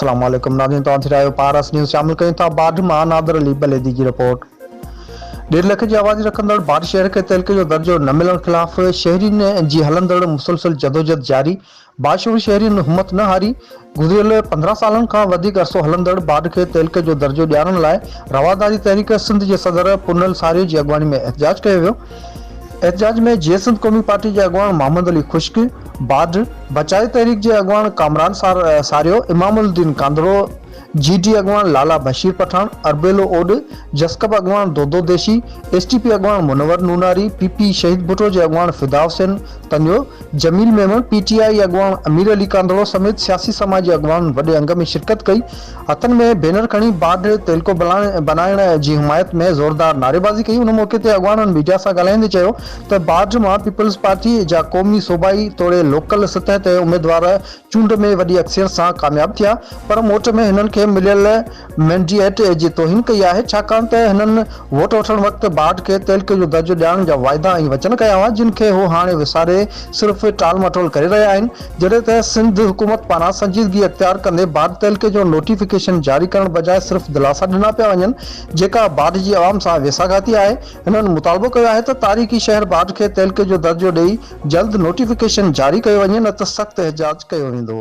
السلام عليڪم ناظرين توهان ٿي رهيو پارس نيوز شامل ڪيون ٿا باڊھ مان نادر علي بليدي جي رپورٽ ڏيڍ لک جي آبادي رکندڙ باڊھ شهر کي تحلڪي جو درجو نه ملڻ خلاف شهرين جي هلندڙ مسلسل جدوجهد جاري باشعور شهرين همت نه هاري، گذريل پندرهن سالن کان وڌيڪ عرصو هلندڙ باڊ کي تعلقي جو درجو ڏيارڻ لاء رواداري تحريڪ سنڌ جي صدر پونل ساريء جي اڳواڻي ۾ احتجاج ڪيو ويو. احتجاج ۾ جيئي سنڌ قومي پارٽي جي اڳواڻ محمد علي خشڪ، باڊ بچائي تحريڪ جي اڳواڻ ڪامران ساريو، امام الدين ڪانڌڙو، جي ٽي اڳواڻ لالا بشير پٺاڻ، اربيلو اوڏ، جسقپ اڳواڻ دودو ديشي، ايس ٽي پي اڳواڻ منور نوناري، پي پي شهيد ڀٽو جي اڳواڻ Fida Hussain Taniyo, Jamil Memon, P T I اڳواڻ امير علي ڪانڌڙو سميت سياسي سماجي اڳواڻن وڏي انگ ۾ شرڪت ڪئي، هٿن ۾ بينر کڻي باڊهه تيلڪو بنائڻ جي حمايت ۾ زوردار نعريبازي ڪئي، ان موقعي تي اڳواڻن ميڊيا سان ڳالهائيندي چيو ته باڊهه مان پيپلز پارٽي جا قومي صوبائي توڙي لوڪل سطح تي اميدوار چونڊ ۾ وڏي اڪثريت سان ڪامياب ٿيا پر موٽ ۾ هنن کي مليل مينڊيئيٽ جي توهين ڪئي آهي ڇاڪاڻ ته هنن ووٽ وٺڻ وقت باڊ کي تحلڪي جو درجو ڏيارڻ جا واعدا ۽ وچن ڪيا هئا جن کي هو هاڻي وساري صرف ٽال مٽول ڪري رهيا آهن جڏهن ته سنڌ حڪومت پاران سنجيدگي اختيار ڪندي باڊ تحلڪي جو نوٽيفڪيشن جاري ڪرڻ بجاء صرف دلاسا ڏنا پيا وڃن جيڪا باڊ جي عوام سان ويساهگاتي آهي هنن مطالبو ڪيو آهي ته تاريخي شهر باڊ کي تحلڪي جو درجو ڏئي جلد نوٽيفڪيشن جاري ڪيو وڃي نه ته سخت احجاج ڪيو ويندو.